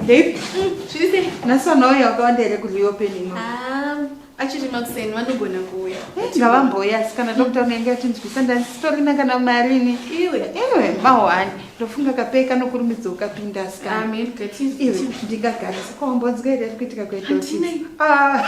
Babe, Zviri nhasi vanhu vauya vakawanda here kuliyo penino? Ah, achiri makuseni vanogona kuuya. Ngavambouya asi kana doctor unenge atinzwisa ndasitorina kana marini. Iwe. Iwe mahwani ndofunga kape kanokurumidza ukapinda asikana. Amen. Gative. Iwe ndingagarisa kwawambonzwa here ari kuitika kuenda office? Handinei. Ah,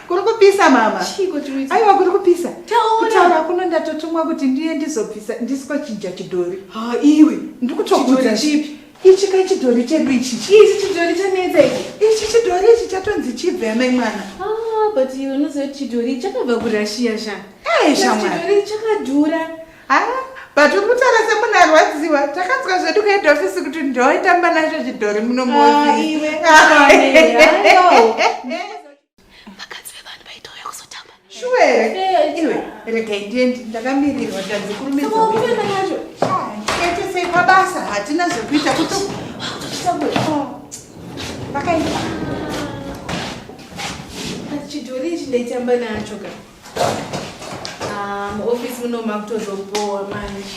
kuri kupisa mama. Chiiko chiri kuitika? Aiwa kuri kupisa. Taura. Kutaura kuno ndatotumwa kuti ndiye ndizobvisa ndisiko chinja chidhori. ha iwe ndikutokuudza chipi ichi ka chidhori chedu ichi ichi chidhori chanetsa ichi ichi chidhori ichi chatonzi chibve amai mwana ah, but iwe unoziva kuti chidhori chakabva kurashiya sha eh, chidhori chakadhura ha ah, but uri kutaura semunhu arwadziwa takanzwa zvedu kuhead office kuti ndoitamba nacho chidhori munomoziiwe ah, vakadzi vevanhu vaitouya kuzotamba shuwe iwe regai ndiendi ndakamirirwa tanzi kurumidzaacho ketesei pabasa hatina zvekuita kuti vakaita chidhori ichi ndaitamba nacho ka ah, muofisi muno makutozobowa manje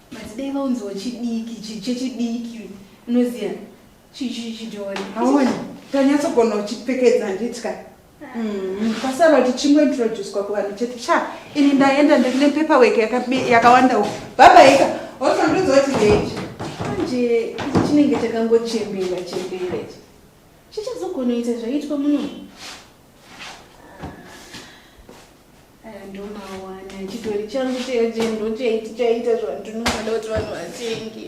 But dai vaunziwo chidiki chi- chechidiki unoziva chi- chi- chidhori. Haona tanyatsogona uchipfekedza handitya. Mm, Pasara kuti chingointroducwa kuvanhu chete. Sha, ini ndaenda ndiri nepaperwork yaka- yakawanda uku. Babaika, wozondiudza kuti ndeiti. Manje ichi chinenge chakangochembera chembera ichi. Chichazogonoita zvaitwa muno. ndomawana chitori changu cheje ndochaiti chaita zvanhu tinonoda kuti vanhu vatenge